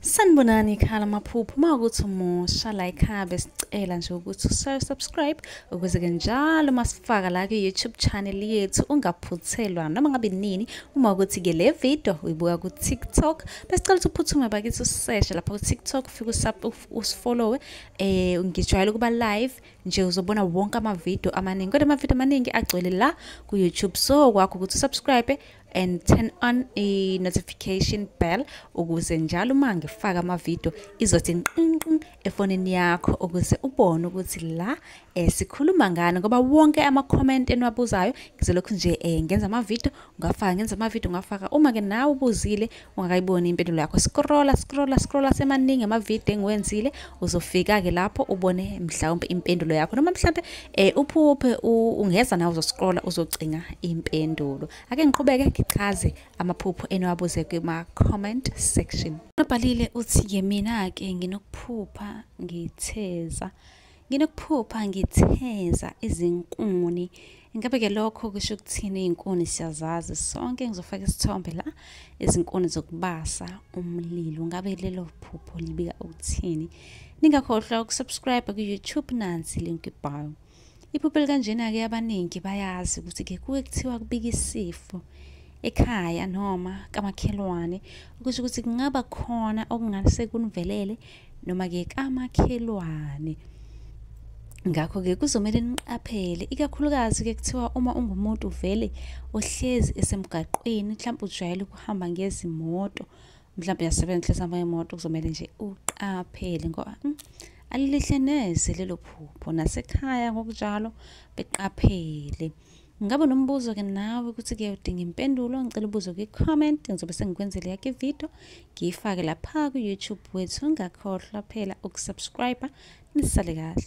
sanibonani ikhala amaphupho uma ukuthi umusha la ikhaya besicela nje ukuthi ushaye subscribe ukuze-ke njalo uma sifaka la kwi-youtube channel yethu ungaphuthelwa noma ngabe nini uma ukuthi-ke le video uyibuka ku-tiktok besicela ukuthi uphuthume bakithi useshe lapha ku-tiktok ufike usifollowe eh ngijwayele ukuba live nje uzobona wonke amavidiyo amaningi kodwa amavidiyo amaningi agcwele la ku-youtube so kwakho ukuthi usubscribe and turn on a notification bell ukuze njalo uma ngifaka amavidiyo izothi nqinqin efonini yakho ukuze ubone ukuthi la eh, sikhuluma ngani ngoba wonke ama-comment eniwabuzayo ngizolokhu nje eh, ngenza amavidiyo ngafaka ngenza amavidiyo ngafaka uma-ke nawe ubuzile ungakayiboni impendulo yakho scrolla scrolla scrolla semaningi amavidiyo engiwenzile uzofika-ke lapho ubone mhlawumpe impendulo yakho noma mhlawumpe um uphuphe ungeza nawe uzoscrolla uzocinga impendulo ake ngiqhubeke ngichaze amaphupho eniwabuze kuma-comment section nobhalile uthi-ke mina-ke nginokuphupha ngitheza Nginokuphupha ngitheza izinkuni. Ingabe-ke lokho kusho ukuthini iy'nkuni siyazazi sonke ngizofaka isithombe la izinkuni zokubasa umlilo. Ngabe lelo phupho libika ukuthini? Ningakhohlwa ukusubscribe ku-YouTube nansi link ibhayo. Iphupho elikanjena-ke abaningi bayazi ukuthi-ke kuke kuthiwa kubika isifo ekhaya noma kamakhelwane okusho ukuthi kungaba khona okungase kunivelele noma-ke kamakhelwane ngakho-ke kuzomele niqaphele ikakhulukazi-ke kuthiwa uma ungumuntu vele ohlezi esemgaqweni mhlawumbe ujwayele ukuhamba ngezimoto mhlawumbe uyasebenza uhlezi hamba ngemoto kuzomele nje uqaphele ngoba mm, alilihle neze lelo phupho nasekhaya ngokunjalo beqaphele Ngaba nombuzo ke nawe ukuthi ke udinga impendulo ngicela ubuzo kwi comment ngizobe sengikwenzele yakhe video ngiyifake lapha ku YouTube wethu ungakhohlwa phela ukusubscribe nisale kahle